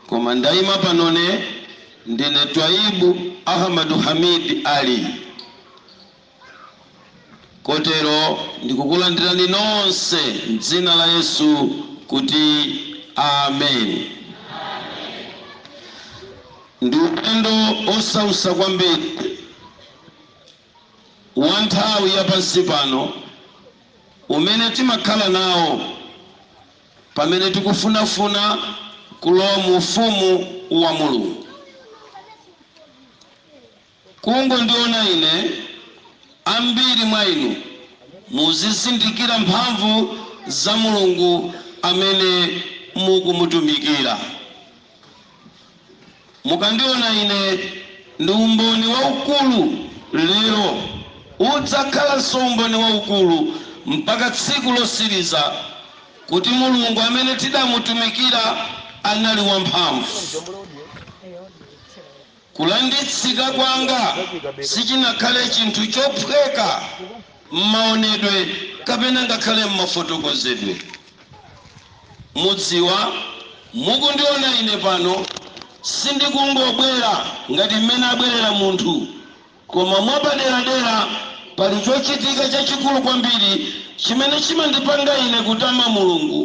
Koma ndaima panone ndine Twaib Ahmadu Hamid Ali, kotero ndikukulandirani nonse m'dzina la Yesu kuti Amen. Ndi ulendo osautsa kwambiri wa nthawi ya pansi pano umene timakhala nawo. Pamene tikufunafuna kulowa mu Ufumu wa Mulungu. Kungondiona ine, ambiri mwa inu muzizindikira mphamvu za Mulungu amene mukumutumikira. Mukandiona ine ndi umboni waukulu lero, udzakhalanso umboni waukulu mpaka tsiku lotsiriza, kuti Mulungu amene tidamutumikira anali wamphamvu. Kulanditsika kwanga sichinakhale chinthu chophweka m'maonedwe kapena ngakhale m'mafotokozedwe. Mudziwa, mukundiona ine pano, sindikungobwera ngati m'mene abwerera munthu. Koma mwapaderadera, pali chochitika chachikulu kwambiri chimene chimandipanga ine kutama Mulungu,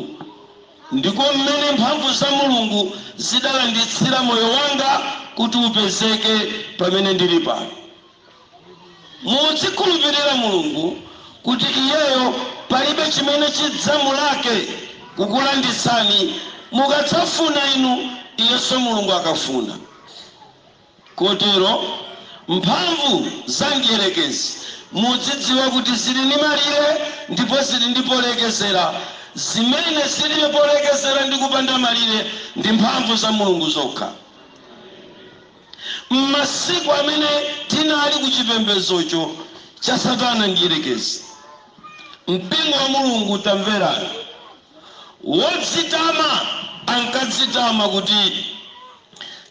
ndiko m'mene mphamvu za Mulungu zidalanditsira moyo wanga kuti upezeke pamene ndiri pano. Mudzikhulupirira Mulungu kuti Iyeyo palibe chimene chidzamulake kukulanditsani mukadzafuna inu, Iyenso Mulungu akafuna. Kotero, mphamvu za mdierekezi, mudzidziwa kuti ziri ndi malire ndipo ziri ndi polekezera. Zimene ziribe polekezera ndi kupanda malire ndi mphamvu za Mulungu zokha. M'masiku amene tinali ku chipembedzocho cha Satana Mdierekezi, Mpingo wa Mulungu, tamverani! Wodzitama ankadzitama kuti,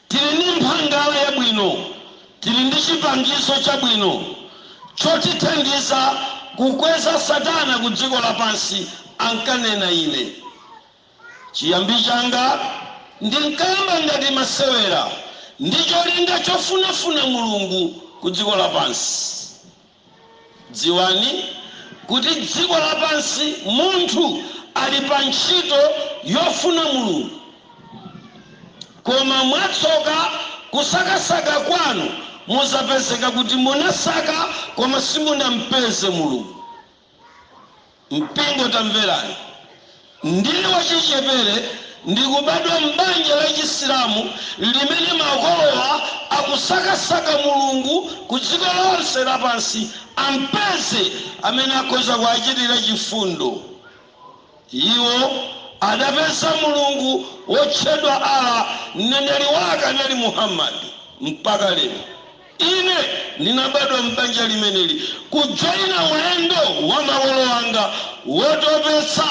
Tili ndi mphangala yabwino, tili ndi chipangizo chabwino chotithandiza kukweza Satana ku dziko lapansi, ankanena. Ine chiyambi changa ndinkayamba ngati masewera ndi cholinga chofunafuna Mulungu ku dziko lapansi. Dziwani kuti dziko lapansi munthu ali pa ntchito yofuna Mulungu, koma mwatsoka kusakasaka kwanu mudzapezeka kuti munasaka koma simunampeze Mulungu. Mpingo, tamverani! Ndili wachichepere, ndikubadwa m'banja la Chisilamu limene makolowa akusakasaka Mulungu ku dziko lonse lapansi ampeze amene akhoza kuachitira chifundo. Iwo adapeza Mulungu wotchedwa Allah, Mneneri wake anali Muhammad, mpaka lero. Ine ndinabadwa m'banja limeneli, kujoina ulendo wa makolo anga wotopetsa,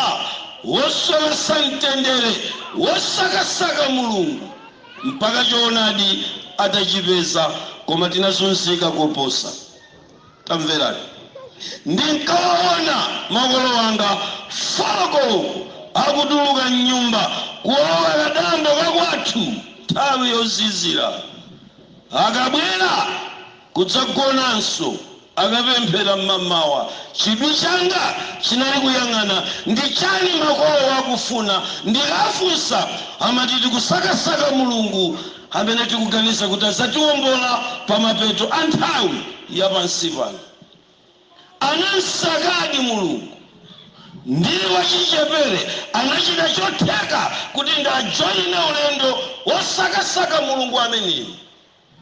wosowetsa mtendere, wosakasaka Mulungu mpaka choonadi atachipeza, koma tinazunzika koposa. Tamverani! Ndinkawaona makolo anga 4 koloko akutuluka m'nyumba kulowa kadambo ka kwathu nthawi yozizira. Akabwera kudzagonanso akapemphera m'mamawa, chidwi changa chinali kuyang'ana ndi chani makolowa akufuna. Ndikafunsa amati tikusakasaka Mulungu. amene tikuganiza kuti adzatiwombola pa mapeto a nthawi ya pansi pano, anam'sakadi Mulungu. Ndili wachichepere, anachita chotheka kuti ndiajoine ulendo wosakasaka Mulungu ameneyu,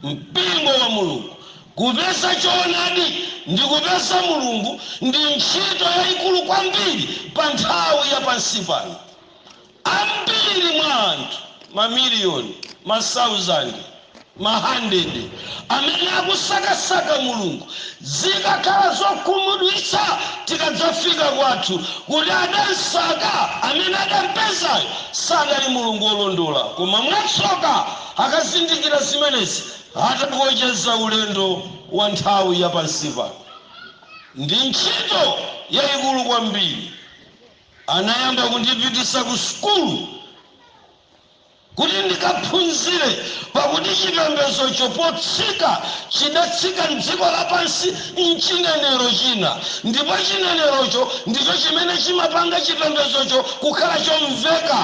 mpingo wa Mulungu. Kupeza choonadi ndi kupeza Mulungu ndi ntchito yaikulu kwambiri pa nthawi ya pansi pano. Ambiri mwa anthu mamiliyoni, masauzande, mahandede amene akusakasaka Mulungu zikakhala zokhumudwitsa tikadzafika kwathu kuti adamsaka amene adampezayo sadali Mulungu olondola koma mwatsoka akazindikira zimenezi atakocheza ulendo wa nthawi ya pansi pano. Ndi ntchito yaikulu kwambiri. Anayamba kundipitisa ku sukulu kuti ndikaphunzire, pakuti chipembedzocho potsika chidatsika m'dziko lapansi m'chinenero china, ndipo chinenerocho ndicho chimene chimapanga chipembedzocho kukhala chomveka.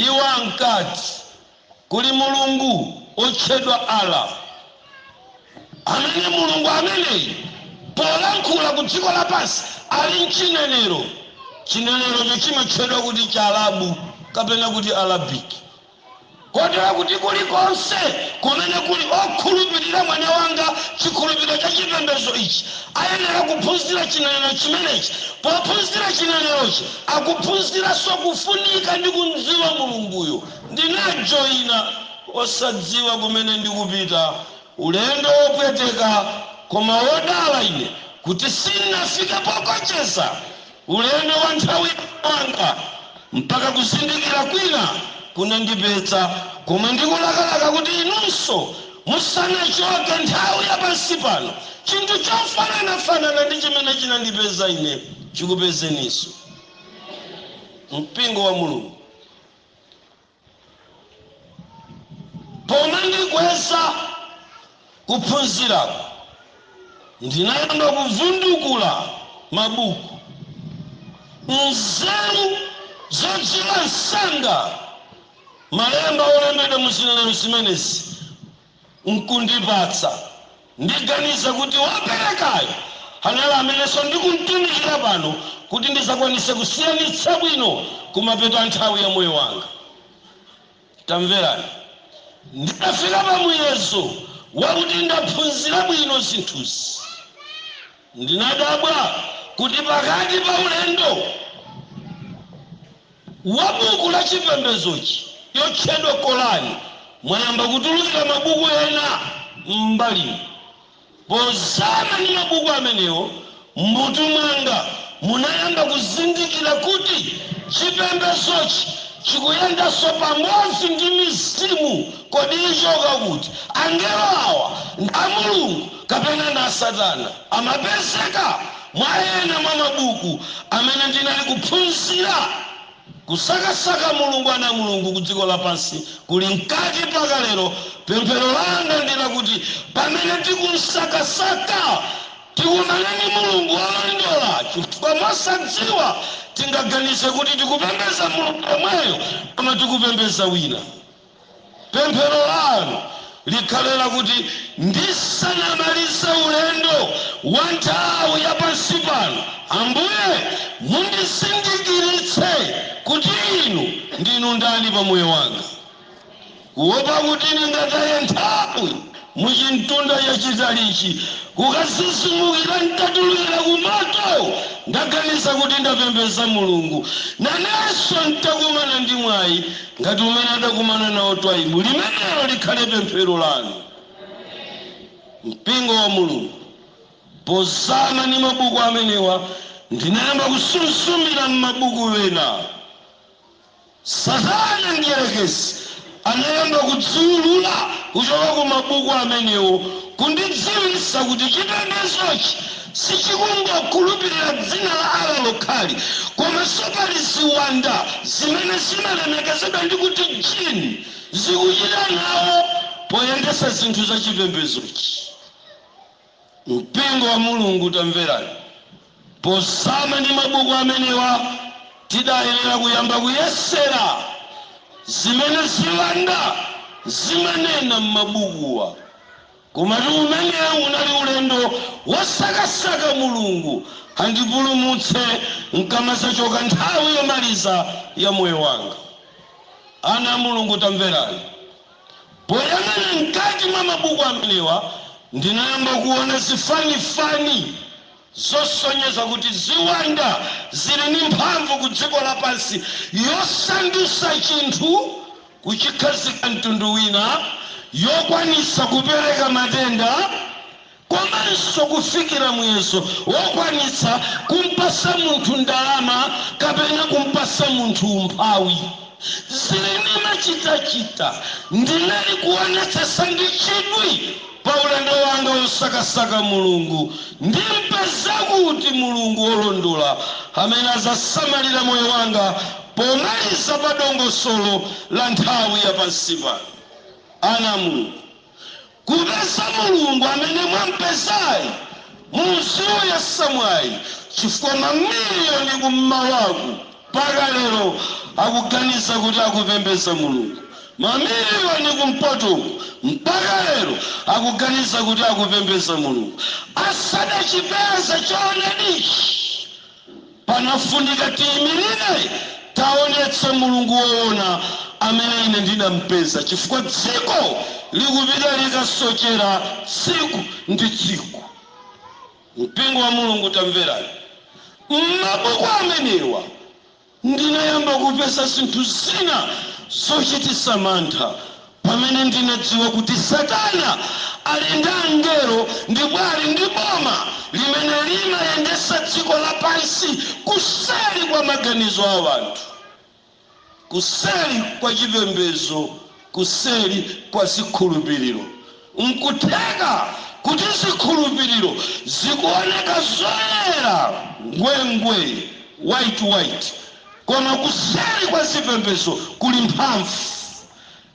Iwo ankati. Kuli Mulungu otchedwa Allah amene Mulungu ameneyi polankhula ku dziko lapansi ali mchinenero, chinenerocho chimatchedwa kuti Chiarabu kapena kuti Arabic. Kotero kuti kulikonse kumene kuli okhulupirira mwana wanga chikhulupiriro cha chipembedzo ichi ayenera kuphunzira chinenero chimenechi, pophunzira chinenerochi akuphunziranso kufunika ndi kumdziwa Mulunguyo. Ndinajoina osadziwa kumene ndikupita, ulendo wopweteka koma wodala ine kuti sin'nafike pokocheza ulendo wa nthawi yanga mpaka kuzindikira kwina kunandipeza komwe ndikulakalaka kuti inunso musanachoke nthawi ya pansi pano chinthu chofananafanana ndi chimene chinandipeza ine chikupezeninso. Mpingo wa Mulungu. Poona ndikweza kuphunziraku, ndinayamba kuvundukula mabuku. Nzeru zodziwa msanga malemba olembedwa mu zinenero zimenezi n'kundipatsa. Ndiganiza kuti woperekayo anali amenenso ndikum'tumikira pano kuti ndidzakwanitse kusiyanitsa bwino kumapeto a nthawi ya moyo wanga. Tamverani. Nditafika pa muyezo wakuti ndaphunzira bwino zinthuzi, ndinadabwa kuti pakati pa ulendo. wa buku la chipembedzochi yotchedwa Korani mwayamba kutulukira mabuku ena m'mbalimu. Pozama ndi mabuku amenewo m'mutu mwanga munayamba kuzindikira kuti chipembedzochi chikuyendanso pamodzi ndi mizimu. Kodi ichoka kuti? Angelo awa ndi a Mulungu kapena ndi a Satana? Amapezeka. Mwa ena mwa mabuku amene ndinali kuphunzira Kusakasaka Mulungu Ana a Mulungu ku Dziko Lapansi Kuli Mkati Mpaka Lero Pemphero langa ndi lakuti pamene tikumsakasaka, tikumane ndi Mulungu wolondola chifukwa mosadziwa tingaganize kuti tikupembeza Mulungu yemweyo koma tikupembeza wina. Pemphero lanu likhale lakuti ndisanamalize ulendo wa nthawi ya pansi pano, Ambuye, mundizindikiritse kuti Inu ndinu ndani pa moyo wanga, kuwopa kuti ndingataye nthawi. muchimtunda chachitalichi kukadzidzimukira ntatulukira kumoto ndaganiza kuti ndapembeza mulungu nanenso ntakumana ndi mwayi ngati umene adakumana nawo twaibu limenelo likhale pemphero lanu mpingo wa mulungu pozama ndi mabuku amenewa ndinayamba kusuzumira mmabuku ena Satana Mdyerekezi anayamba kudziulula kuchoka ku mabuku amenewo, kundidziwitsa kuti chipembedzochi sichikungokhulupirira dzina la Allah lokhali, komanso pali ziwanda zimene zimalemekezedwa ndi kuti Jinn zikuchita nawo poyendetsa zinthu za chipembedzochi. Mpingo wa Mulungu, tamverani! Pozama ndi mabuku amenewa, tidayenera kuyamba kuyesera zimene ziwanda zimanena m'mabukuwa. Komatu umenewu unali ulendo wosakasaka Mulungu andipulumutse ndikamadzachoka nthawi yomaliza ya moyo wanga. Ana a Mulungu, tamverani! Poyang'ana mkati mwa mabuku amenewa, ndinayamba kuona zifanifani zosonyeza kuti ziwanda zili ndi mphamvu ku dziko lapansi yosandutsa chinthu kuchikhazika mtundu wina, yokwanitsa kupereka matenda, komanso kufikira muyezo wokwanitsa kumpatsa munthu ndalama kapena kumpatsa munthu umphawi. Zimenezi machitachita ndinali kuonetsetsa ndi chidwi pa ulendo wanga wosakasaka Mulungu ndimpeza kuti Mulungu wolondola amene adzasamalira moyo wanga pomaliza pa dongosolo la nthawi ya pansi pano. Ana a Mulungu. Kupeza Mulungu amene mwampezayi muziuyesa mwayi chifukwa ma million ku mmawaku mpaka lero akuganiza kuti akupembeza Mulungu, ma million kumpotoku mpaka lero akuganiza kuti akupembeza Mulungu asadachipeza choonadichi. Pakufunika tiimirire, taonetse Mulungu woona amene ine ndinampeza, chifukwa dziko likupita likasochera tsiku ndi tsiku. Mpingo wa Mulungu, tamverani! M'mabuku amenewa. Ndinayamba kupeza zinthu zina zochititsa mantha pamene ndinadziwa kuti Satana ali ndi angelo ndipo ali ndi boma limene limayendetsa dziko lapansi kuseri kwa maganizo a anthu, kuseri kwa chipembedzo kuseri kwa zikhulupiriro. Nkutheka kuti zikhulupiriro zikuwoneka zoyera ngwengwee, white white, koma kuseri kwa zipembedzo kuli mphamvu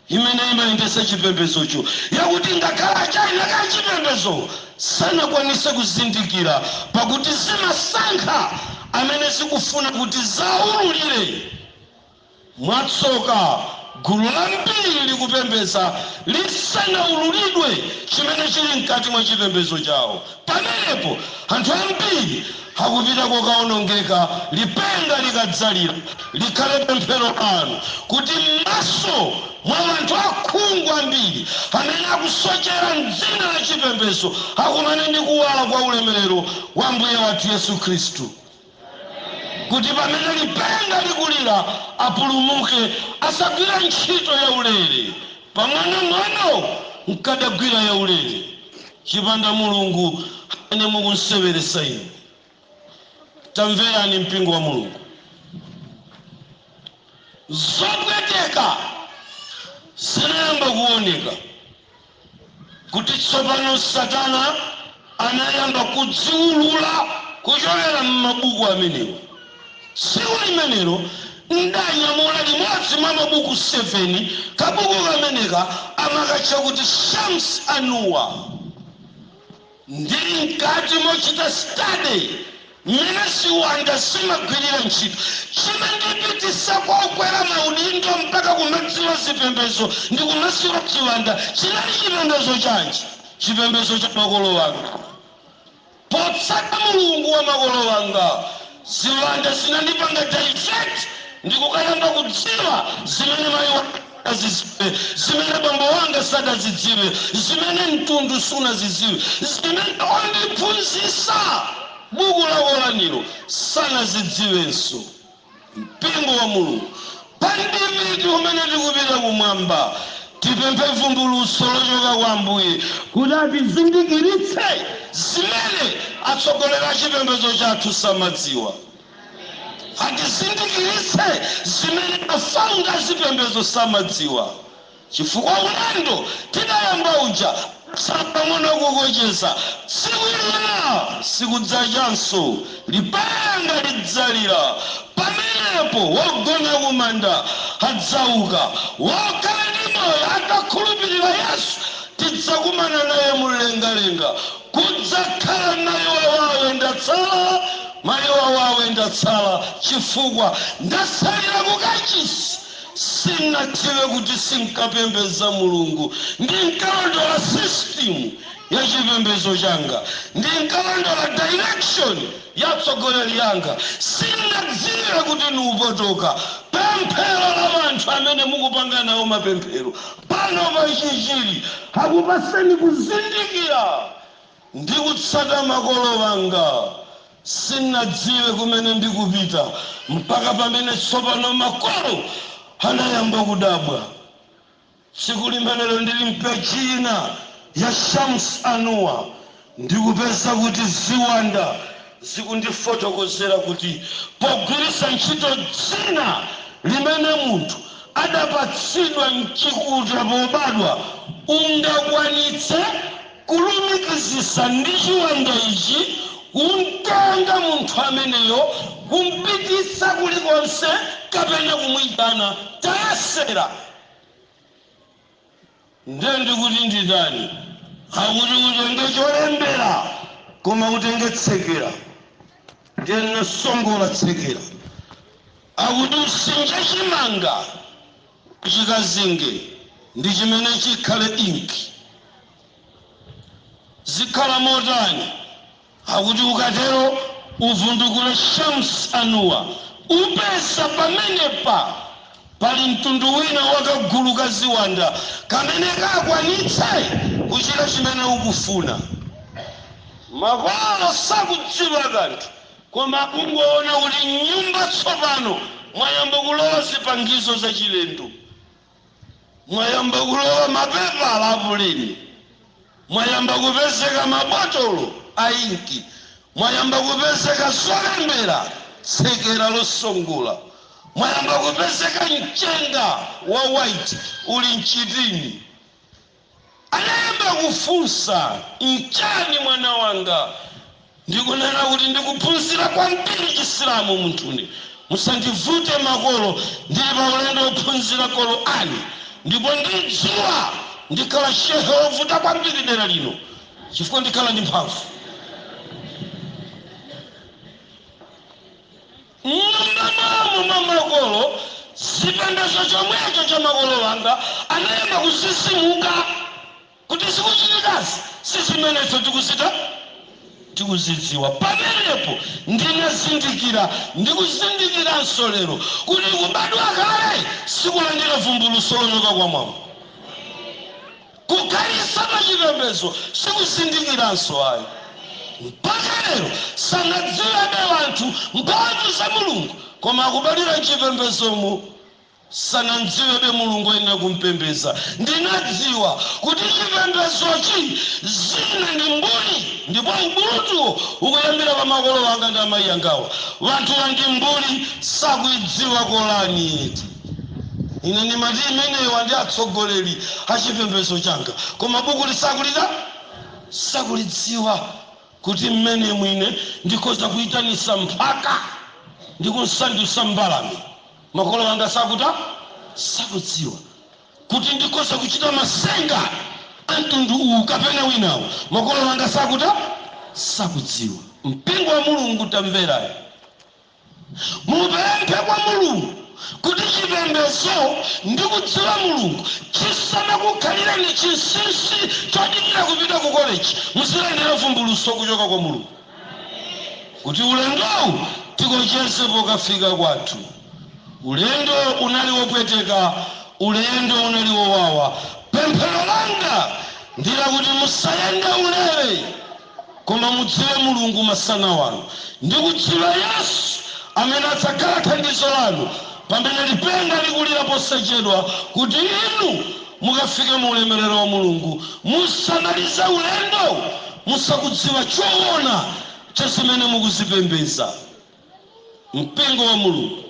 imene imayendetsa chipembedzocho yakuti ngakhale achaina ake achipembedzo sanakwanitse kuzindikira, pakuti zimasankha amene zikufuna kuti ziawululire. Mwatsoka, gulu lambiri likupembedza lisanaululidwe chimene chili mkati mwa chipembedzo chawo. Pamenepo anthu ambiri akupita kukaonongeka lipenga likadzalira. Likhale pemphero lanu kuti m'maso mwa anthu akhungu ambiri amene akusochera m'dzina la chipembedzo akumane ndi kuwala kwa ulemerero wa Ambuye wathu Yesu Khristu. kuti pamene lipenga likulira apulumuke, asagwire ntchito yaulere, pang'onong'ono nkadagwira yaulere, chipanda Mulungu amene mukumseweretsa inu. Tamverani mpingo wa Mulungu, zopweteka zinayamba kuoneka kuti tsopano Satana anayamba kudziulula kuchokera m'mabuku amenewa. Tsiku limenelo ndanyamula limodzi mwa mabuku 7. Kabuku kameneka amakatcha kuti Shams Anuwar. Ndili mkati mochita study mmene ziwanda zimagwirira ntchito, chinandipititsa kokwera maudindo mpaka kumadziwa zipembezo ndikumadziwa chiwanda, chinali chipembezo chanji? Chipembezo cha makolo anga. Potsata Mulungu wa makolo anga, ziwanda zinandipanga divert ndikukayamba kudziwa zimene mayi wanga. sadazidziwe, zimene bambo wanga sadazidziwe, zimene mtundu sunazidziwe, zimene ondiphunzitsa buku la Koranilo sanazidziwenso. Mpingo wa Mulungu, pa ndime iti umene tikupita kumwamba, tipemphe vumbulutso lochoka kwa Ambuye kuti atizindikiritse zimene atsogoleri a chipembedzo chathu samadziwa. Atizindikiritse zimene ma founder azipembezo samadziwa chifukwa ulendo tidayamba uja watsala pang'ono kukocheza. Tsiku lina sikudzachanso. Lipenga lidzalira. Pamenepo wogona kumanda adzauka. Wokhala ndi moyo atakhulupirira Yesu tidzakumana naye mumlengalenga. Kudzakhala mayiwawawe ndatsala, mayiwawawe ndatsala chifukwa ndatsalira ku kachisi. Sinadziwe kuti sinkapembeza Mulungu. Ndinkalondola system ya chipembezo changa. Ndinkalondola direction ya atsogoleri anga. Sinadziwe kuti ni opotoka. Pemphero la anthu amene mukupanga nawo mapemphero. pano pa Chichiri. Akupatsani kuzindikira ndi kutsata makolo wanga. Sin'nadziwe kumene ndikupita mpaka pamene tsopano makolo anayamba kudabwa. Tsiku limenelo ndili m'peji ina ya Shams Anuwa Ndikupeza kuti ziwanda zikundifotokozera kuti pogwiritsa ntchito dzina limene munthu adapatsidwa m'chikuta pobadwa, ungakwanitse kulumikizitsa ndi chiwanda ichi, kumtenga munthu ameneyo, kumpititsa kulikonse kapena kumuitana. Tayesera! Nde ndikuti nditani? Akuti utenge cholembera koma utenge tsekera. Ndiye ndinasongola tsekera. Akuti usinje chimanga chikazinge ndi chimene chikhale inki. Zikhala motani? Akuti ukatero uvundukule Shams Anuwa upeza pamenepa pali mtundu wina wa kagulu ka ziwanda kamene kakwanitse kuchita chimene ukufuna. Makolo sakudziwa kanthu koma akungoona kuti m'nyumba tsopano mwayamba kulowa zipangizo zachilendo. Mwayamba kulowa mapepala a puleni. Mwayamba kupezeka mabotolo a inki. Mwayamba kupezeka zolembera, tsekera losongola. Mwayamba kupezeka mchenga wa white uli m'chitini. Anayamba kufunsa, N'chiyani mwana wanga? Ndikunena kuti ndikuphunzira kwambiri Chisilamu munthune. Musandivute makolo, ndili pa ulendo wophunzira Qur'an ndipo ndidziwa ndikhala Shehe wovuta kwambiri dera lino chifukwa ndikhala ndi mphamvu. M'mwamba mwa mu mwa makolo, chipembedzo chomwecho cha makolo wanga anayamba kuzizimuka, kuti zikuchitikazi si zimene ife tikuzita tikuzidziwa. Pamenepo ndinazindikira ndi kuzindikiranso lero, kuti kubadwa kale si kulandira vumbulutso lochoka kwa Mwamba. Kukhalitsa m'chipembedzo sikuzindikiranso ayi. Mpaka lero sanadziwebe wanthu mphamvu za Mulungu koma akubadwira m'chipembedzomu. Sanamdziwebe Mulungu oyenera kumpembedza. Ndinadziwa kuti chipembedzochi zina ndi mbuli ndipo ubulutuwu ukuyambira pa makolo wanga ndi amayi angawa. Wanthuwa ndi mbuli sakuidziwa Qur'an eti. Ine ndimati imenewa ndi atsogoleri a chipembedzo changa, koma bukuli sakulitani? Sakulidziwa, kuti m'menemu ine ndikhoza kuitanitsa mphaka ndi kumsandutsa mbalame. Makolo anga sakutani? Sakudziwa, kuti ndikhoza kuchita matsenga a mtundu uwu kapena winawo. Makolo anga sakutani? Sakudziwa. Mpingo wa Mulungu, tamverani! Mupemphe kwa Mulungu kuti chipembedzo ndi kudziwa Mulungu chisamakukhalireni chinsinsi chodikira kupita ku koleji. Muzilandira vumbulutso kuchoka kwa Mulungu kuti ulendowu tikocheze pokafika kwathu. Ulendo unali wopweteka, ulendo unali wowawa. Pemphero langa ndi lakuti musayende ulere. Koma mudziwe Mulungu masana wano, ndi kudziwa Yesu, amene adzakhala thandizo lanu pamene lipenga likulira posachedwa, kuti inu mukafike mu ulemerero wa Mulungu musamalize ulendo musakudziwa choona cha zimene mukuzipembedza. Mpingo wa Mulungu.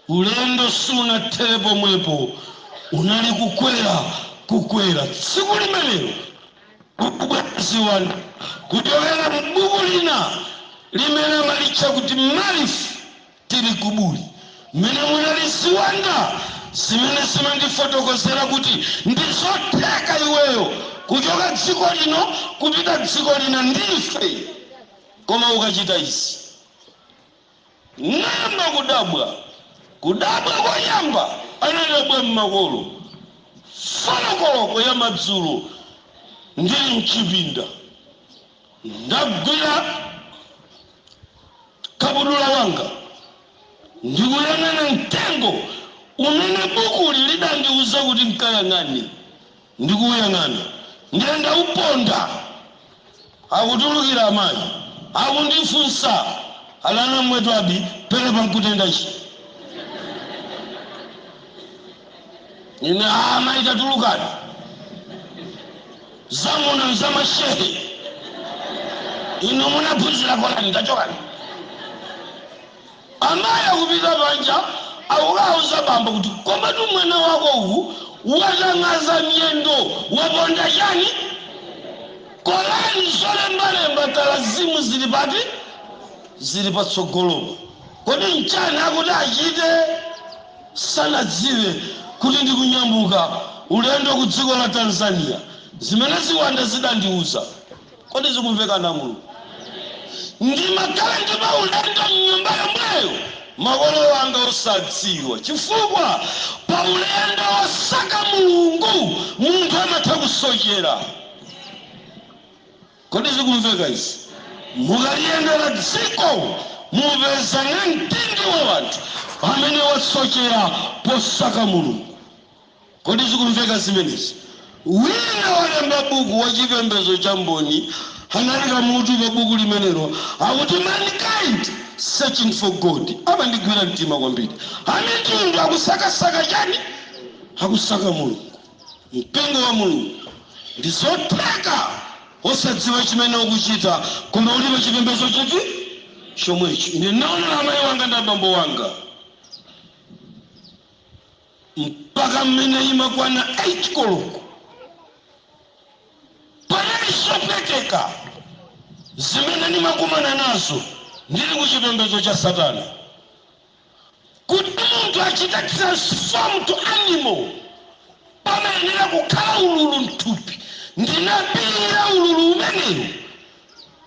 Ulendo sunathere pomwepo, unali kukwera, kukwera. Tsiku limenelo, kubwera ziwanda kuchokera mu buku lina limene amalitcha kuti Malif tili kuburi, mmene munali ziwanda zimene zimandifotokozera kuti ndi zotheka iweyo kuchoka dziko lino kupita dziko lina ndi ife, koma ukachita izi. N'nayamba kudabwa. Kudabwa koyamba anadabwa m'makolo, folo koloko ya madzulo ndili m'chipinda. Ndagwira kabudula wanga ndi kuyang'ana mtengo umene bukuli lidandiuza kuti n'kayang'ane. Ndikuuyang'ana ndiye ndauponda. Akutulukira amayi akundifunsa ali ana mwe Twabi pelepa nkutenda chi? Ine, Ah amayi tatulukani. Za kuno nza mashehe. Inu munaphunzira Korani tachokani. Amayi akupita panja akukauza bambo kuti komatu mwana wako uwu watang'adza miyendo waponda chani? Korani zolembalemba talazimu zili pati? Zili patsogolopo. Kodi nchani akuti achite? Sanadziwe kuti ndikunyamuka ulendo ku dziko la Tanzania. Zimene ziwanda zidandiuza. Kodi zikumveka ana a Mulungu? Ndimakhala ndi maulendo m'nyumba yomweyo makolo anga osadziwa chifukwa pa ulendo wosaka Mulungu munthu amatha kusochera. Kodi zikumveka izi? Mukaliyendera dziko mupeza namtindi wa wanthu amene wasochera posaka Mulungu. Kodi zikumveka zimenezi? Wina wolemba buku wa chipembedzo cha Mboni anaika mutu pa buku limenelo akuti Mankind Searching for God. Unandigwira mtima kwambiri. Amitundu akusakasaka chani? Akusaka Mulungu, Mpingo wa Mulungu. Ndizotheka osadziwa chimene ukuchita koma uli pa chipembedzo chiti chomwecho. Ine ndinaonera amayi wanga ndi abambo wanga. mpaka mmene imakwana 8 koloko panali zopweteka zimene ndimakumana nazo ndili ku chipembedzo cha satana kuti munthu achite transform to animal pamayenera kukhala ululu mthupi ndinapirira ululu umenewu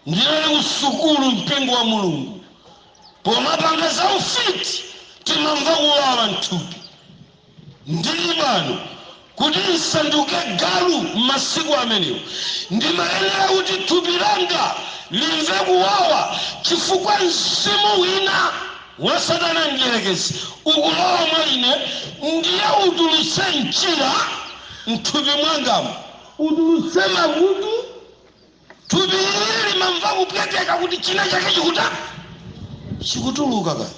ndinali ku sukulu mpingo wa mulungu Pomapanga za ufiti timamva kuwawa mthupi. Ndi mano kuti nsanduke galu m'masiku amenewo. Ndimayenera kuti thupi langa limve kuwawa chifukwa mzimu wina wa satana mdierekezi ukulowa mwa ine ndiye utulutse mchira mthupi mwangamo. Utulutse makutu Thupi ili limamva kupweteka kuti china chake chikutani? Chikutuluka kaya.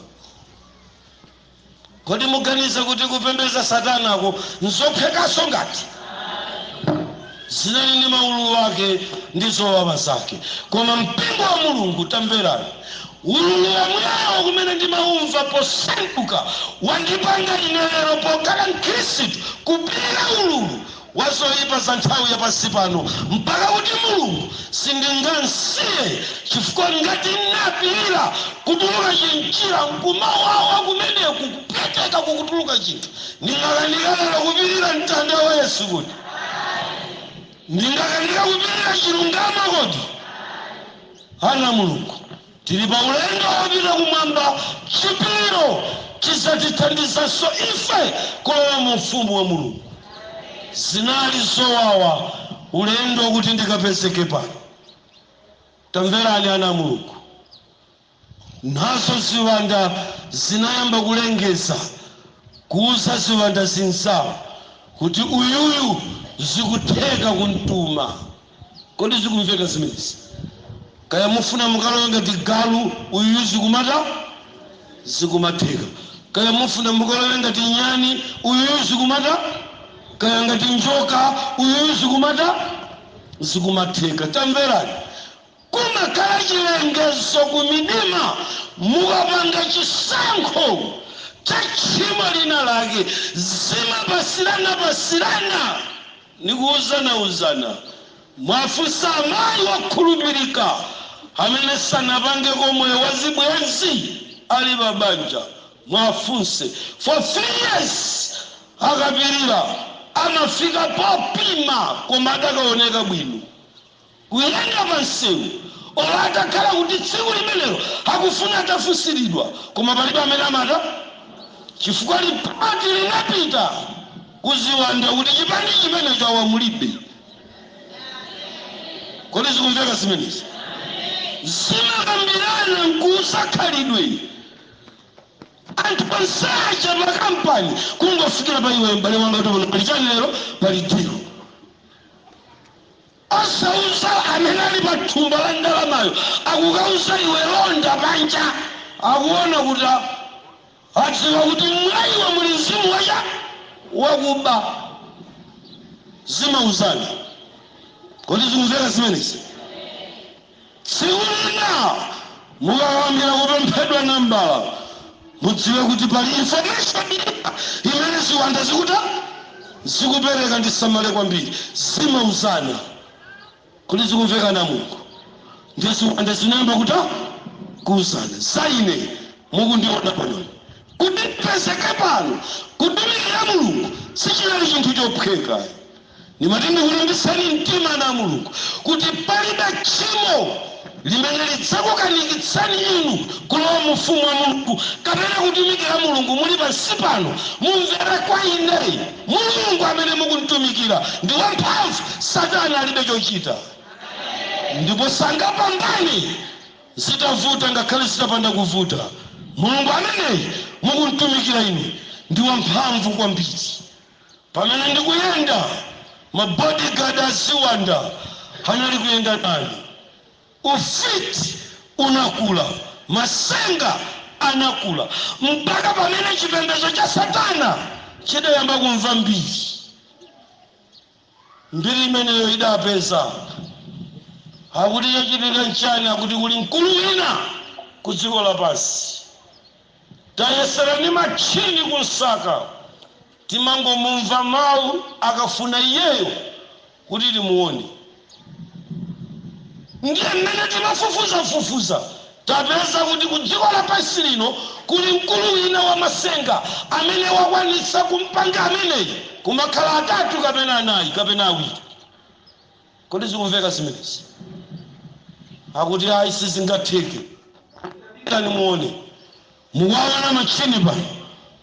Kodi muganiza kuti kupembedza satanako nzophwekanso ngati? Zinali ndi maululu ake ndi zowawa zake. Koma mpingo wa Mulungu tamverani. Ululu womwewo umene ndimaumva posanduka wandipanga ine lero pokhala mkhristu kupilira ululu wa zoipa za nthawi ya pansi pano, mpaka kuti Mulungu sindingamsiye, chifukwa ngati napilira kutuluka chimchira nkumawawa kumeneku kupweteka kukutuluka chinthu, ndingakanika lero kupilira mtanda wa Yesu kodi? Ndingakanika kupilira chilungamo kodi? Ana a Mulungu. Tili pa ulendo wopita kumwamba, chipiriro chidzatithandizanso ife kulowa mu Ufumu wa Mulungu. Zinali zowawa ulendo wakuti ndikapezeke pano. Tamverani ana a Mulungu. Nazo ziwanda zinayamba kulengeza, kuuza ziwanda zinzawo kuti, Uyuyu zikutheka kumtuma. Kodi zikumveka zimenezi? Kaya mufuna mukalowe ngati galu uyuyu zikumatani? Zikumatheka. Kaya mufuna mukalowe ngati nyani uyuyu zikumatani? Kaya ngati njoka uyuyu zikumatani? Zikumatheka. Tamverani! Kumakhala chilengezo ku midima mukapanga chisankho cha tchimo lina lake. Zimapasirana pasirana ndi kuuzana uzana. Muwafunse amayi wokhulupirika amene sanapangeko moyo wa zibwenzi ali pa banja. Muwafunse. For three years akapirira amafika popima koma adakaoneka bwino. kuyenda pa msewu, olo atakhala kuti tsiku limenelo akufuna atafunsiridwa, koma palibe amene amatani, chifukwa lipoti linapita ku ziwanda kuti chipani chimenecho awa mulibe. Kodi zikumveka zimenezi? Zimakambirana nkuuza khalidwe anthu onse aja pa kampani, kungofikira pa iweyo m'bale wanga kuti pano pali chani lero? Pali deal. Asauza amene ali pa thumba la ndalamayo akukauza iwe londa panja akuona kuti adziwa kuti mwa iwe muli mzimu wa chani? Wakuba. Zimauzana. Kodi zikumveka zimenezi? Tsiku lina mukayamba kupemphedwa nambala, mudziwe kuti pali information ina imene ziwanda zikutani? zikupereka ndisamale kwambiri. Zimauzana Kodi zikumveka ana a Mulungu? Ndiye ziwanda zinayamba kutani? kuuzana. Za ine mukundiona panoyu, kuti ndipezeke pano kutumikira Mulungu sichinali chinthu chophweka ayi. Ndimati ndikulimbitseni mtima ana a Mulungu kuti palibe tchimo limene lidzakukanikitsani inu kulowa mu Ufumu wa Mulungu kapena kutumikira Mulungu muli pansi pano. Mumvere kwa ine. Mulungu amene mukumtumikira ndi wamphamvu. Satana alibe chochita ndipo sangapambane zitavuta ngakhale zitapanda kuvuta. Mulungu ameneyi mukumtumikira inu ndi wamphamvu kwambiri. Pamene ndikuyenda, ma bodyguard a ziwanda anali kuyenda nane. Ufiti unakula, matsenga anakula, mpaka pamene chipembedzo cha Satana chidayamba kumva mbiri. Mbiri imeneyo idapeza akuti chachitika nchani, akuti kuli mkulu wina ku dziko lapansi. Tayesera ndi matchini kumsaka, timangomumva mawu akafuna iyeyo kuti timuone. Ndiye mmene tinafufuzafufuza, tapeza kuti kudziko lapansi lino kuli mkulu wina wamatsenga amene wakwanitsa kumpanga ameneyu kumakhala atatu kapena anayi kapena awiri. Kodi zikumveka zimenezi? Akuti ayi sizingatheke. Pitani muone. Mukuwaona matchini pano?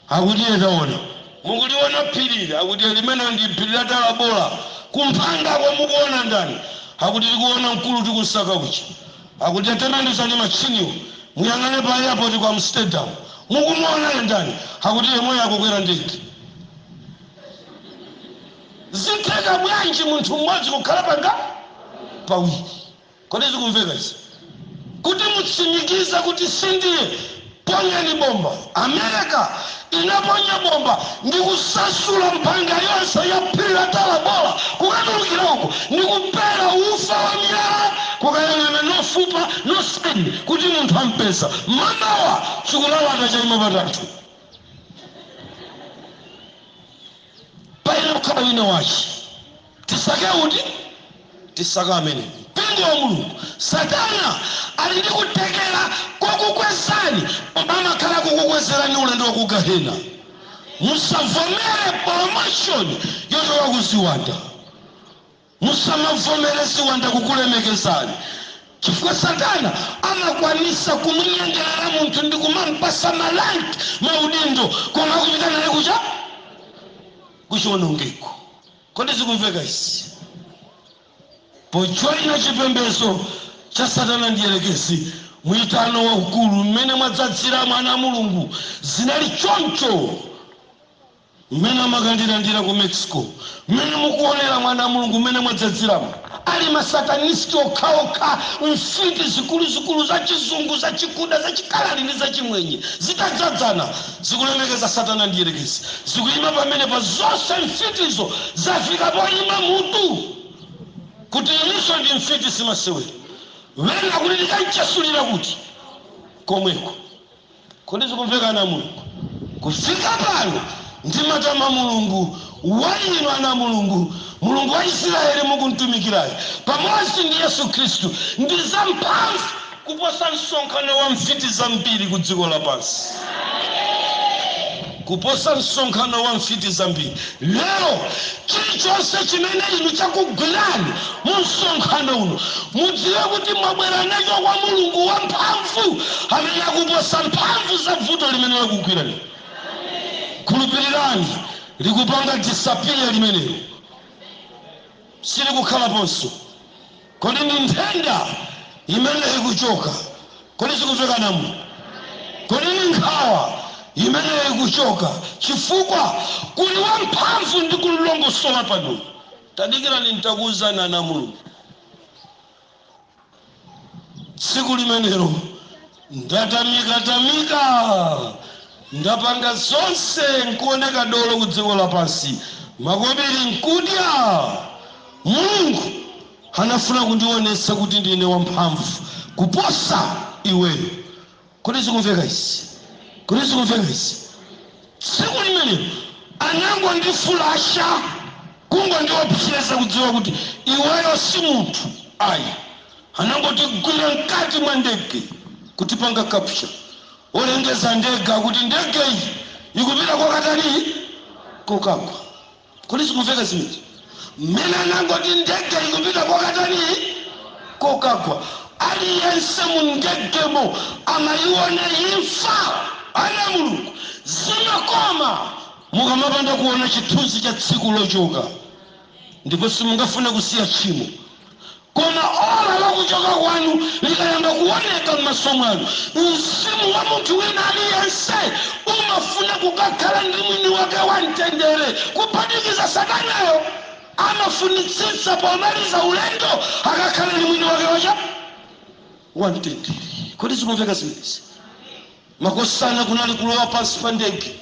Akuti ee taona. Mukuliona phiri ili? Akuti limenelo ndi phiri la Talabola. Kumphangako mukuona ndani? Akuti tikuona mkulu tikusaka uja. Akuti tatembenuzani matchiniwo muyang'ane pa airport ku Amsterdam. Mukumuonayo ndani? Akuti yemweyo akukwera ndege. Zitheka bwanji munthu mmodzi kukhala panga pawiri? Kodi zikumveka izi? Kuti mutsimikize kuti sindiye, ponyani bomba. Amerika inaponya bomba ndi kusasula mphanga yonse ya Phiri la Tarabora kukatulukira uko, ndi kupera ufa wa miyala kukayang'ana no fupa, no skin, kuti munthu ampeza. Mamawa, chikulalata chaima patatu. payenera kukhala wina wache tisake uti tisaka amene mpingo wa mulungu satana ali ndi kuthekera kokukwezani koma amakhala kukukwezerani ulendo wa ku gahena musavomere promotion yochoka ku ziwanda Musamavomere ziwanda kukulemekezani, chifukwa Satana amakwanisa kumunyengelera munthu ndikumampasa ma rank, maudindo, koma akupita naye kuti? Kuchionongeko. Kodi zikumveka izi? Pojoina chipembezo cha Satana Mdyerekezi, muitano waukulu, mmene mwadzadziramo ana a Mulungu, zinali choncho. mmene amakandilandira ku Mexico, mmene mukuonera ana a Mulungu mmene mwadzadziramo. Ali ma satanist okhaokha, mfiti zikuluzikulu za chizungu, za chikuda, za chikaladi ndi za chimwenye zitadzadzana, zikulemekeza satana mdierekezi, zikuima pamenepa zonse mfitizo zafika poima mutu kuti inenso ndi mfiti simasewera. Wina akuti ndikanchasulira kuti? Komweko. Kodi zikumveka ana a Mulungu? Kufika pano ndimatama Mulungu wa inu ana a Mulungu, Mulungu wa Isiraeli mukumtumikirayo, pamodzi ndi Yesu Khristu, ndi zamphamvu kuposa msonkhano wa mfiti zambiri kudziko lapansi. kuposa msonkhano wa mfiti zambiri lero. Chilichonse chimene inu chakugwirani mu msonkhano uno, mudziwe kuti mwabwera nacho kwa Mulungu wamphamvu amene akuposa mphamvu za vuto limene lakugwirani inu. Khulupirirani, likupanga disappear limenelo, silikukhalaponso. Kodi ndi nthenda imene ikuchoka? Kodi zikumveka, ana a Mulungu? Kodi ndi nkhawa imene ikuchoka? Chifukwa kuli wamphamvu ndi kulongosola pano. Tadikirani ntakuuzani ana a Mulungu. Tsiku limenelo Ndatamika tamika, ndapanga zonse nkuoneka dolo ku dziko lapansi, makobiri nkudya. Mulungu anafuna kundionesa kuti ndine wamphamvu kuposa iweyo. Kodi zikumveka izi? Kodi zikumveka izi? Tsiku limenelo anangondifulasha, kungondiopseza kudziwa kuti iweyo si munthu ayi. Anangotigwira mkati mwa ndege kutipanga capture. Olengeza ndege kuti ndege iyi ikupita kokatani? Kokagwa. Kodi zikumveka zimenezo? Mmene anangoti ndege ikupita kokatani? Kokagwa. Aliyense mu ndegemo amaiona imfa. Ana a Mulungu, zimakoma mukamapanda kuona chithunzi cha tsiku lochoka. ndipo simungafune kusiya tchimo. Koma ola la kuchoka kwanu likayamba kuoneka m'maso mwanu, mzimu wa munthu wina aliyense umafuna kukakhala ndi mwini wake wa mtendere, kuphatikiza Satanayo. Amafunitsitsa pomaliza ulendo akakhale ndi mwini wake wa chani? Wa mtendere. Kodi zikumveka zimenezi? Makosana kunali kulowa pansi pa ndege,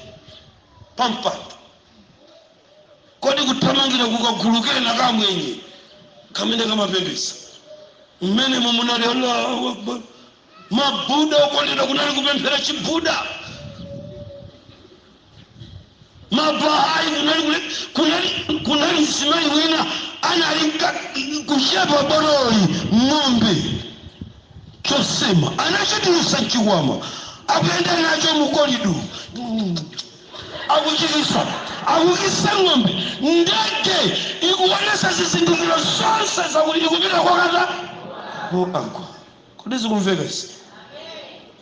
pa mpando. Kodi kuthamangira ku kagulu kena ka Amwenye kamene kamapembedza? Mmenemo munali Allahu Akbar, ma Buddha okondedwa, kunali kupemphera chi Buddha, ma Bahai kunali kule, kunali kunali mzimayi wina anali nka- kuchepa bololi ng'ombe chosema anachitulutsa mchikwama akuyenda nacho mu corridor akuchikisa, akukisa ng'ombe, ndege ikuonetsa zizindikiro zonse zakuti ikupita kokatani? Kokagwa. Kodi zikumveka izi?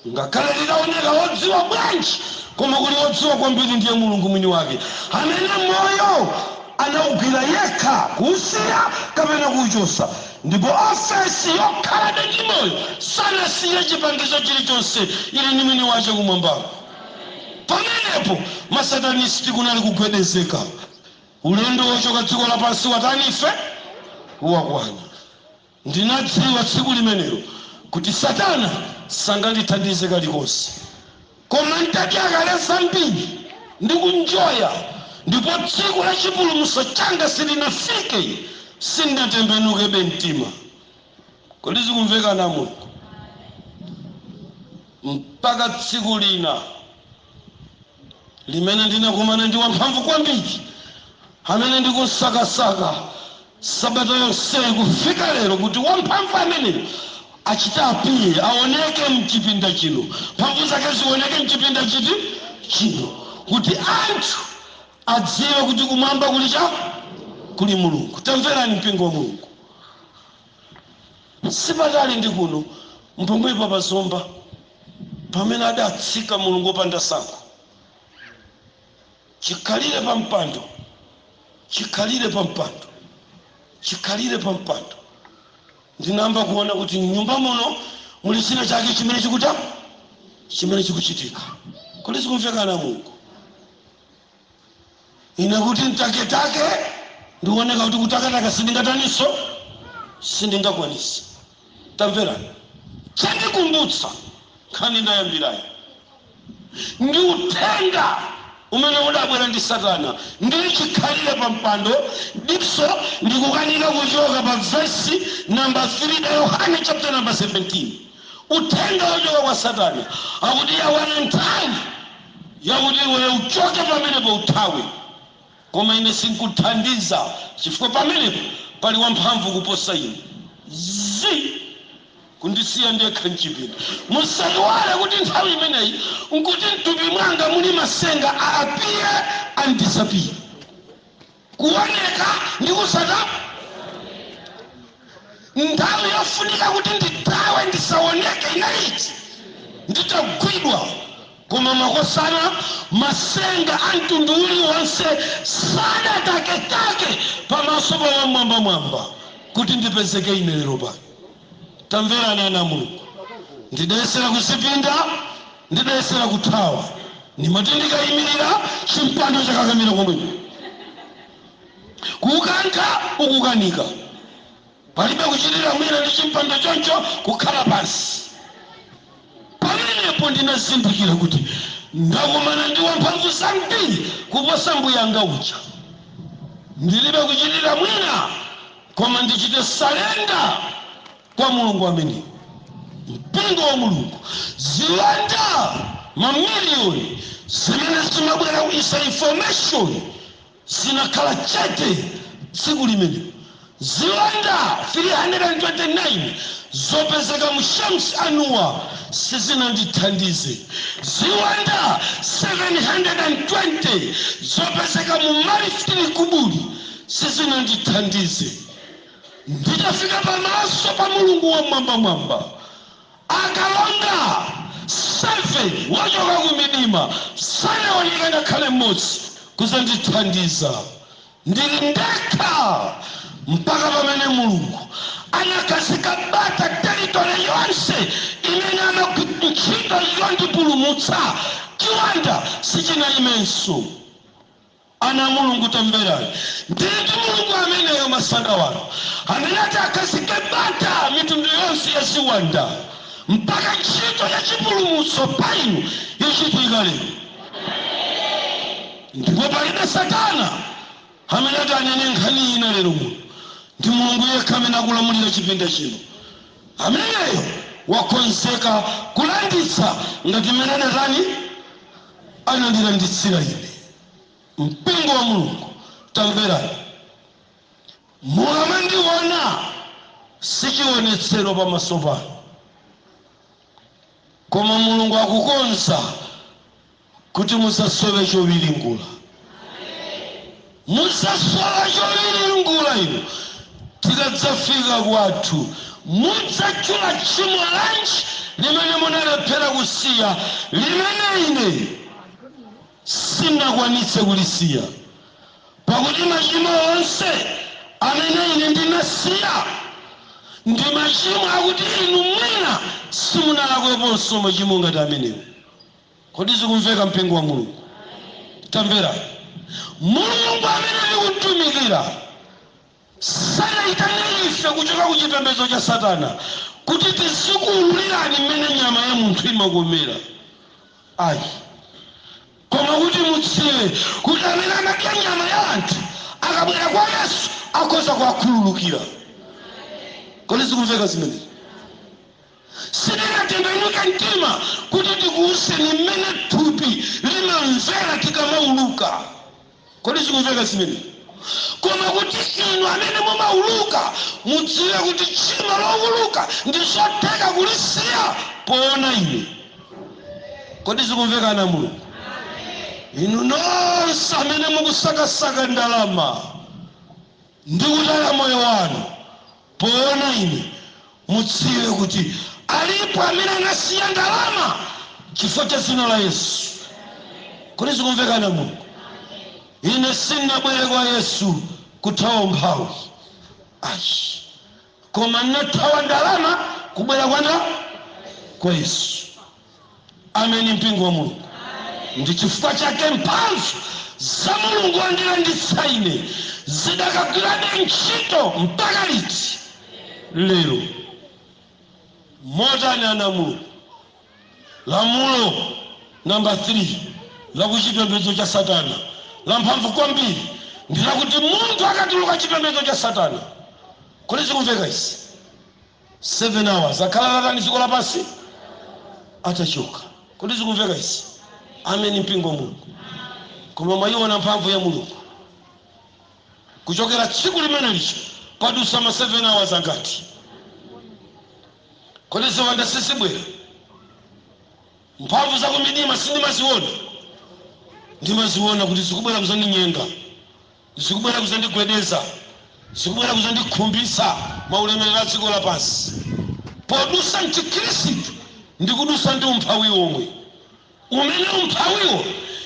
Ngakhale litaoneka wodziwa bwanji, koma kuli wodziwa kwambiri ndiye Mulungu mwini wake, amene moyo anaugwira yekha, kuusiya kapena kuuchotsa. Ndipo ofesi yokhalabe ndi moyo sanasiyire chipangizo chilichonse, ili ndi mwini wache kumwambako. Pamenepo ma Satanisiti kunali kugwedezeka, Ulendo wochoka dziko lapansi watani ife? wakwana. Ndinadziwa tsiku limenelo kuti Satana sangandithandize kalikonse. Koma ntatyakale zambiri ndi kunjoya ndipo tsiku la chipulumutso changa silinafike, sindinatembenukebe mtima. Kodi zikumveka ana a Mulungu? Mpaka tsiku lina limene ndinakumana ndi wamphamvu kwambiri amene ndikumsakasaka sabata yonseyi kufika lero kuti wamphamvu ameneyo achite appear aoneke mchipinda chino mphamvu zake zioneke mchipinda chiti chino kuti anthu adziwe kuti kumwamba kuli cha kuli mulungu tamverani mpingo wa mulungu Si patali ndi kuno, pompanopa pa Zomba, pamene adatsika mulungu wopanda tsankho, chikhalire pa mpando, chikhalire pa mpando, chikhalire pa mpando, ndinayamba kuona kuti m'nyumba muno muli china chake chimene chikuta, chimene chikuchitika. Kodi zikumveka, ana a Mulungu? Ine kuti ntaketake ndioneka kuti kutakataka sindingataniso sindingakwanise tamverani chandikumbutsa nkhani ndayambirayo ndi uthenga umene udabwera ndi satana ndili chikhalire pa mpando diso likukanika kuchoka pa vesi namba 3 ya yohane chapter namba 17 uthenga wochoka kwa satana akuti yakwana nthawi yakuti, Iweyo uchoke pamenepo, uthawe! Koma ine sinkuthandiza, chifukwa pamenepo pali wamphamvu kuposa ine. Zi! Kundisiya ndekha m'chipinda! Musaiwale kuti nthawi imeneyi n'kuti m'thupi mwanga muli masenga a appear and disappear. kuoneka ndi kusatani nthawi yofunika kuti ndithawe ndisaoneke inali itii nditagwidwa koma makosana masenga a mtundu uliwonse sadataketake pamaso pa wamwambamwamba kuti ndipezeke ine lero pano tamverani ana a mulungu ndidayesera kuzipinda Ndidayesera kuthawa, ndimati ndikaimirira chimpando chakakamira komweko, kukankha ukukanika. Palibe kuchitira mwina ndi chimpando choncho, kukhala pansi. Pamenepo ndinazindikira kuti ndakumana ndi wamphamvu zambiri kuposa mbuyanga uja. Ndilibe kuchitira mwina koma ndichite surrender. kwa Mulungu ameneyo, Mpingo wa Mulungu, ziwanda mamiliyoni zimene zimabwera kudzaika information zinakhala chete tsiku limenelo. Ziwanda 329 zopezeka mu Shams Annuwar sizinandithandize. Ziwanda 720 zopezeka mu Marif Tili Kuburi sizinandithandize. Nditafika pamaso pa Mulungu Wammwambamwamba, akalonga 7 ochoka ku Midima sanaoneke ngakhale mmodzi kudzandithandiza. Ndili ndekha mpaka pamene Mulungu anakhazika bata territory yonse mmene amagwira ntchito yondipulumutsa, chiwanda sichinayimenso. Ana a Mulungu, tamverani! Ndili ndi Mulungu ameneyo, masana wano, amene ati akhazike bata mitundu yonse ya ziwanda mpaka ntchito ya chipulumutso pa inu ichitika lero. Ndipo palibe satana amene ati anene nkhani ina lero muno. Ndi Mulungu yekha amene akulamulira chipinda chino. Ameneyo wakonzeka kulanditsa ngati m'mene adatani? anandilanditsira ine. Mpingo wa Mulungu, tamverani! Mukamandiona si chiwonetsero pamaso panu, koma Mulungu akukonza kuti mudzasowe chowiringula. Mudzasowa chowiringula inu tikadzafika kwathu. Mudzatchula tchimo lanji limene munalephera kusiya, limene ine sindinakwanitse kulisiya? Pakuti machimo onse amene ine ndinasiya ndi machimo akuti inu mwina simunalakweponso machimo ngati amenewo. Kodi zikumveka, mpingo wa Mulungu? Tamverani! Mulungu amene tikumtumikira sanatiitanire ife kuchoka ku chipembedzo cha Satana kuti tizikuululirani mmene nyama ya munthu imakomera, ayi, koma kuti mudziwe kuti amene amadya nyama ya anthu akabwera kwa Yesu akhoza kuwakhululukira. Kodi zikumveka zimenezi? Sitinatembenuke mtima kuti tikuuzeni mmene thupi limamvera tikamauluka. Kodi zikumveka zimenezi? Koma kuti inu amene mumauluka mudziwe kuti tchimo louluka ndi zotheka kulisiya poona ine. Kodi zikumveka ana a Mulungu? Inu nonse amene mukusakasaka ndalama ndi kutaya moyo wanu. Poona ine, mudziwe kuti alipo amene anasiya ndalama chifukwa cha dzina la Yesu. Kodi zikumveka ana a Mulungu? Ine sindinabwere kwa Yesu kuthawa umphawi. Ayi. Koma ndinathawa ndalama kubwera kwa ndani? Kwa Yesu. Ameni, mpingo wa Mulungu. Ndi chifukwa chake mphamvu za Mulungu zondilanditsa ine zidakagwirabe ntchito mpaka liti? Lero. Motani, ana a Mulungu? Lamulo namba 3 la ku chipembedzo cha Satana lamphamvu kwambiri ndi lakuti munthu akatuluka chipembedzo cha Satana. Kodi zikumveka izi? 7 hours akhala atatani dziko lapansi atachoka kodi zikumveka izi ameni mpingo wa mulungu koma mwayiona mphamvu ya mulungu kuchokera tsiku limene lijalo padusa ma 7 hours angati kodi ziwanda sizibwera mphamvu zakumidima sindimaziona ndimaziona kuti zikubwera kuzandinyenga Zikubwera kudzandigwedeza, zikubwera kudzandikhumbitsa maulemerero a dziko lapansi. Podutsa m'chikhristu ndikudutsa ndi umphawi omwe, umene umphawiwo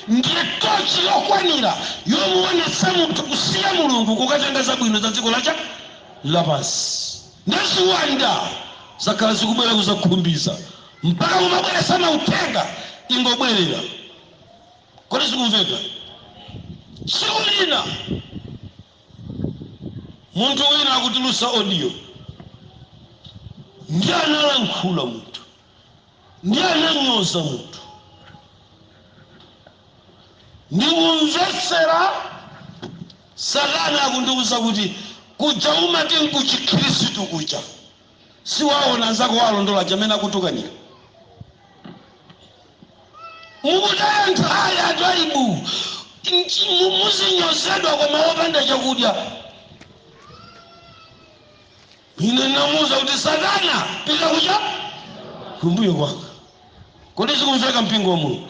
ndiye tochi yokwanira yomuonetsa munthu kusiya Mulungu kukatenga zabwino za dziko lapansi. Ndiye ziwanda zakhala zikubwera kudzakhumbitsa mpaka kumabweretsa mauthenga ingobwerera. kodi zikumveka tsiku lina munthu wina akutulusa audio ndiye analankhula munthu ndiye ananyoza munthu ndikumvetsera satana akundiwuza kuti kuja umati nkuchikhirisitu kuja Siwaona anzako owalondola aja mmene akutukanira? Mukutaya nthawi anthu aibu nchi- mu- muzinyozedwa koma wopanda chakudya. Ine ndinamuuza kuti Satana pita uchoke kumbuyo kwanga. Kodi zikumveka, mpingo wa Mulungu?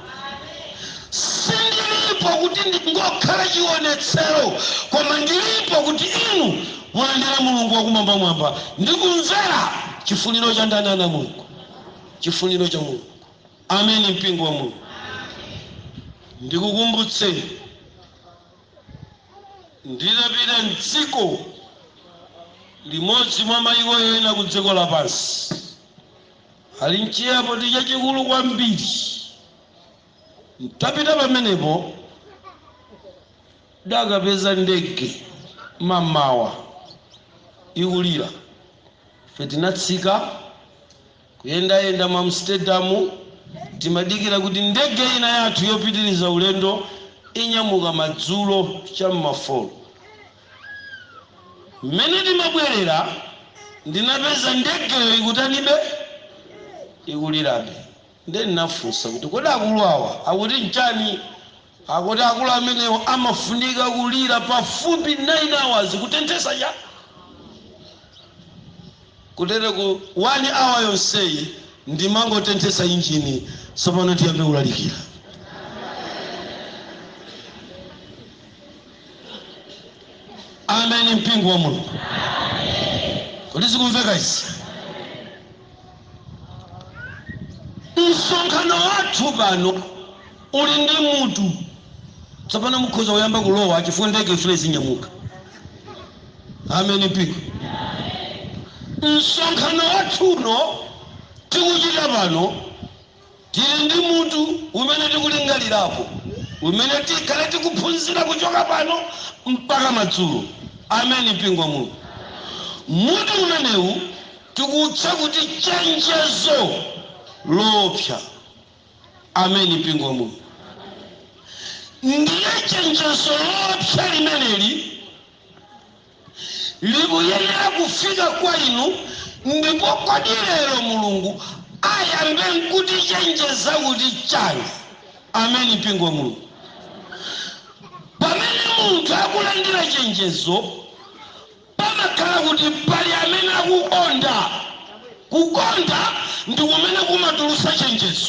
Sindilipo kuti ndingokhala chionetsero, koma ndilipo kuti inu mulandire Mulungu wa Kumwambamwamba ndi kumvera chifuniro cha ndani, ana a Mulungu? Chifuniro cha Mulungu. Ameni, mpingo wa Mulungu. Ndikukumbutseni, ndidapita m'dziko limodzi mwa mayiko ena ku dziko lapansi, Ali m'chi airport chachikulu kwambiri. N'tapita pamenepo, n'dakapeza ndege mamawa ikulira. Ife tinatsika, kuyendayenda mu Amsterdam, timadikira kuti ndege ina yathu yopitiriza ulendo inyamuka madzulo cha m'ma folo. Mmene timabwerera, ndinapeza ndegeyo ikutanibe? Ikulirabe. Ndiye ndinafunsa kuti, Kodi akulu awa akuti n'chani? Akuti akulu amenewo amafunika kulira pafupi 9 hours kutenthetsa Cha kutere ku 1 hour yonseyi ndimangotenthetsa injini. Tsopano tiyambe kulalikira. ameni mpingo wa mulungu kodi zikumveka izi msonkhano wathu pano uli ndi mutu tsopano mukhoza kuyamba kulowa chifukwa ndege ifuna izinyamuka ameni mpingo msonkhano wathu uno tikuchita pano Tili ndi mutu umene tikulingalirapo umene tikhale tikuphunzira kuchoka pano mpaka madzulo. Amen mpingo wa Mulungu. Mutu umenewu tikuutcha kuti chenjezo loopsa. Amen mpingo wa Mulungu. Ndiye chenjezo loopsa limeneli. likuyenera kufika kwa inu, ndipo kodi lero Mulungu ayambe nkutichenjeza kuti chani? Amen mpingo wa Mulungu. Pamene munthu akulandira chenjezo, pamakhala kuti pali amene akukonda. Kukonda ndi kumene kumatulusa chenjezo.